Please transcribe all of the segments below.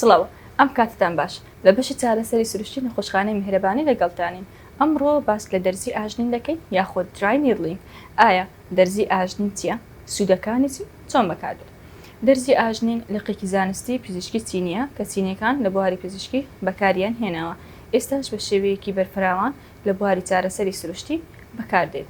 سڵاو ئەم کاتتان باش لە بەشی چارەسەری سروشتی نەخۆشخانەی میهرەبانی لەگەڵتانین ئەمڕۆ باس لە دەرزی ئاژنین دەکەین یاخود درای نیرلین ئایا دەرزی ئاژنین چیە سودەکانی چین چۆن بەکاردێت دەرزی ئاژنین لقێکی زانستی پزیشکی چینیە کە چینیەکان لە بواری پزیشکی بەکاریان هێناوە ئێستاش بە شێوەیەکی بەرفراوان لە بواری چارەسەری سروشتی بەکاردێت.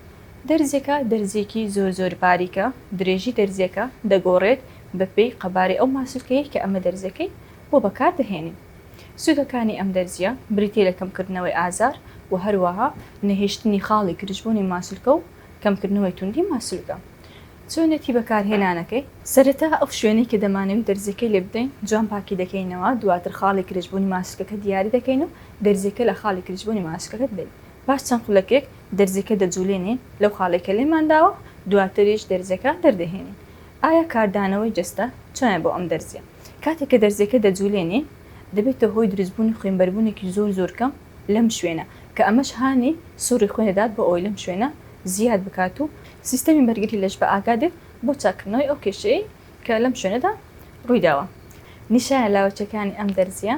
دەرزیەکە دەرزیەکی زۆر زۆر باریکە، درێژی دەرزیەکە دەگۆڕێت بە پێی قەبارەی ئەو ماسولکەیەی کە ئەمە دەرزیەکەی بۆ بەکار دەهێنین. سوودەکانی ئەم دەرزیە بریتیە لە کەمکردنەوەی ئازار و هەروەها نەهێشتنی خاڵی گرژبوونی ماسولکە و کەمکردنەوەی توندی ماسولکە. چۆنێتی بەکارهێنانەکەی؟ سەرەتا ئەو شوێنەی کە دەمانەوی دەرزیەکەی لێ بدەین جوان پاکی دەکەینەوە دواتر خاڵی کرچبوونی ماسکەکە دیاری دەکەین و دەرزیەکە لە خاڵی کرچبوونی ماسکەکە دەدەین پاش چەند خولەکێک دەرزیەکە دەجولێنین لەو خاڵەی کە لێمان داوە دواتریش دەرزیەکە دەردەهێنین ئایا کاردانەوەی جەستە چۆنە بۆ ئەم دەرزیە کاتێک کە دەرزیەکە دەجولێنین دەبێتە هۆی دروستبوونی خوێنبەربوونێکی زۆر زۆر کەم لەم شوێنە، کە ئەمەش هانی سوڕی خوێن دەدات بۆ ئەوەی لەم شوێنە زیاد بکات و سیستەمی بەرگری لەش بە ئاگا دێت بۆ چاککردنەوەی ئەو کێشەیەی کە لەم شوێنەدا ڕوویداوە. نیشانە لاوەکییەکانی ئەم دەرزییە،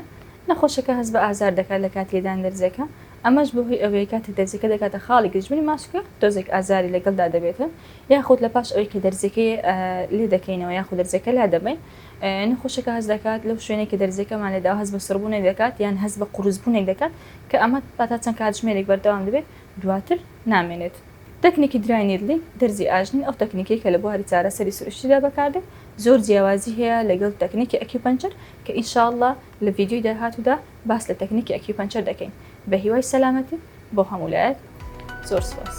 نەخۆشەکە هەست بە ئازار دەکات لە کاتی لێدانی دەرزییەکە، ئەمەش بەهۆی ئەوەیە کاتێک دەرزییەکە دەگاتە خاڵی گرژبوونی ماسولکە تۆزێک ئازاری لەگەڵدا دەبێت یاخود لەپاش ئەوەی کە دەرزییەکەی لێدەکەینەوە یاخود دەرزییەکە لادەبەین، نەخۆشەکە هەست دەکات لەو شوێنەی کە دەرزییەکەمان لێداوە هەست بە سڕبوونێک دەکات یان هەست بە قورسبوونێک دەکات کە ئەمە تا چەند کاتژمێرێک بەردەوام دەبێت دواتر نامێنێت. تەکنیکی درای نیدڵی دەرزی ئاژنین ئەو تەکنیکەی کە لە بواری چارەسەری سروشتیدا بەکاردێت زۆر جیاوازی هەیە لەگەڵ تەکنیکی ئەکیوپەنچەر کە ان شاء اللە لە ڤیدیۆی داهاتوودا باس لە تەکنیکی ئەکیوپەنچەر دەکەین بە هیوای سەلامەتی بۆ هەموو لایەک زۆر سوپاس.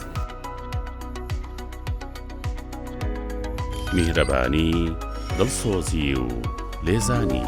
میهرەبانی، دڵسۆزی و لێزانی.